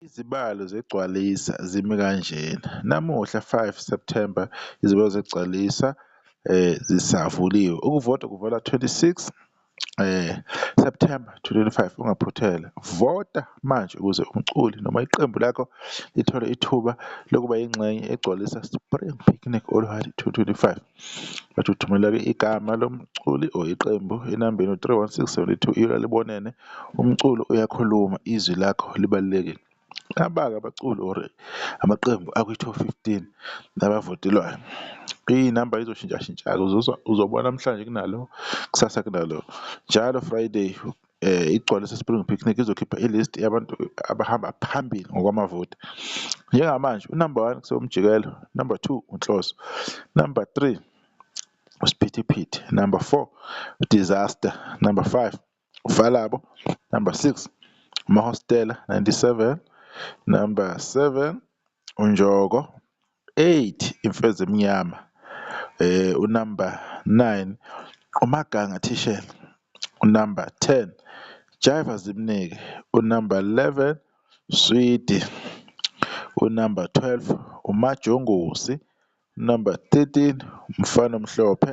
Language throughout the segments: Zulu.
Izibalo zeGcwalisa zimi kanjena, namuhla 5 Septhemba izibalo zeGcwalisa zisavuliwe, ukuvota kuvalwa 26 Septhemba 2025, ungaphothela, vota manje ukuze umculi noma iqembu lakho lithole ithuba lokuba yingxenye yeGcwalisa Spring Picnic Olhadi 2025. But uthumeleka igama lomculi or iqembu enambeni u-three one six seventy two ilo alibonene, umculo uyakhuluma izwi lakho libalulekile. Abake abaculi or amaqembu akwi-top fifteen abavotelwayo iy'namba y'zoshintshashintsha-ke uzobona namhlanje kunalo kusasa kunalo, njalo Friday igcwalise Spring Picnic izokhipha i-list yabantu abahamba phambili ngokwamavoti. Njengamanje unumber one kusewumjikelo, number two uNhloso, number three uSphithiphithi, number four uDisaster, number five uValabo, number six uMahostela 97, number seven uNjoko, Eight imfeza emnyama unumber nine uMaganga Thishela, unumber ten Jaiva Zimnike, unumber eleven Swidi, unumber twelve uMajongosi, unumber thirteen uMfana Omhlophe,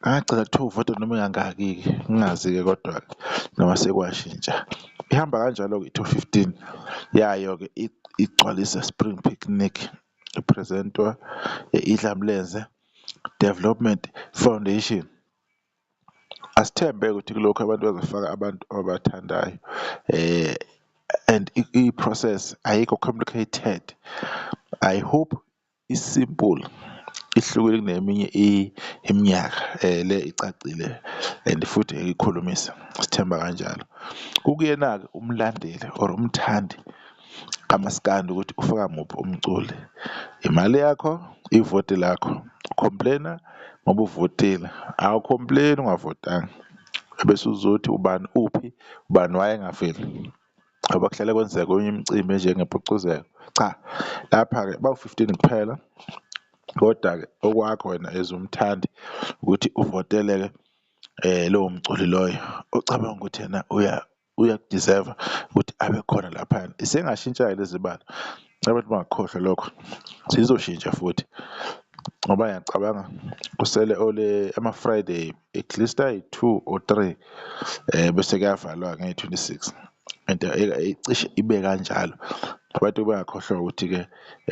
Ngagcina kuthiwa uvota noma engangaki-ke ngingazi-ke kodwa-ke noma sekwashintsha. Ihamba kanjalo-ke i-top fifteen yayo-ke igcwalise Spring Picnic, iphrizentwa i-Idlamlenze Development Foundation. Asithembe-ke ukuthi kulokhu abantu bazofaka abantu ababathandayo and i-process ayikho complicated, I hope I-simple ihlukile kuneminye iminyaka le icacile and futhi ngeke ikhulumise sithemba kanjalo. Kukuyena-ke umlandeli or umthandi kamaskandi ukuthi ufaka muphi umculi, imali yakho, ivoti lakho, complain-a ngoba uvotile, awu-complain-i ungavotanga ebese uzothi ubani uphi, ubani wayengaveli. Ngoba kuhlale kwenzeka kwenye imicimbi enjengempucuzeko. Cha, lapha-ke bawu-fifteen kuphela, koda-ke okwakho wena as umthandi ukuthi uvotele-ke lowo mculi loyo ocabanga ukuthi yena uya uyaku-deserve-a ukuthi abe khona laphayana. Isengashintsha-ke lezibalo. Abantu bangakhohlwa lokho sizoshintsha futhi ngoba ngiyacabanga kusele ole ama-friday at least ayi-two or three um bese kuyavalwa ngey-twenty-six and cishe ibe kanjalo abantu bangakhohlwa ukuthi-ke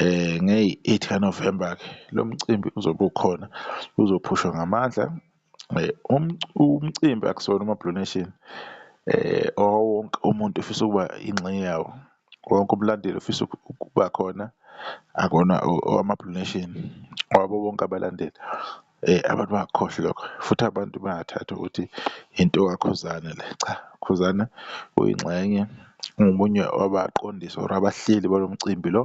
um ngeyi-eight kanovemba-ke lo mcimbi uzobe ukhona uzophushwa ngamandla Umcimbi akusona umaBlue Nation owawowonke umuntu ofisa ukuba ingxenye yawo, wonke umlandeli ofisa ukuba khona akona owamaBlue Nation owabo bonke abalandeli. Abantu bangakukhohlwa lokho futhi abantu bangathathi ukuthi into kaKhuzani le, cha Khuzani uyingxenye ungomunye wabaqondisi or abahleli balo mcimbi lo,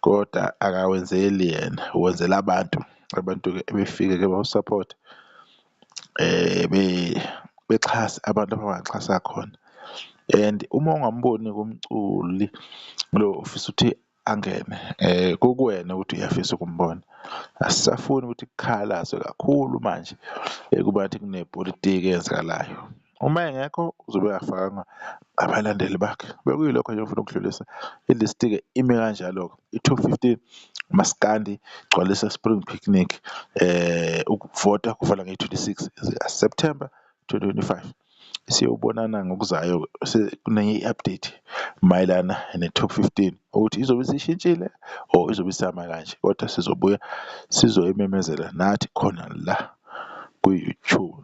koda akawenzeli yena uwenzela abantu. abantu-ke ebefike-ke bawusaphothe bexhase abantu abangaxhasa khona and uma ungamboni-ke umculi lo ofisa ukuthi angene kukuwena ukuthi uyafisa ukumbona. Asisafuni ukuthi kukhalazwe kakhulu manje kubantu kunepolitiki eyenzakalayo. Uma engekho uzobe engafakanga abalandeli bakhe. Bekuyilokho nje engifuna ukudlulisa. I-list-ke ime kanjalo-ke. I-top fifteen, maskandi, gcwalisa spring picnic. Ukuvota kuvala ngeyi-twenty-six zika-September twenty twenty-five. Siyobonana ngokuzayo kunenye i-update mayelana ne-top fifteen ukuthi izobe isishintshile or izobe isama kanje, kodwa sizobuya sizoyimemezela nathi khona la kwi-YouTube.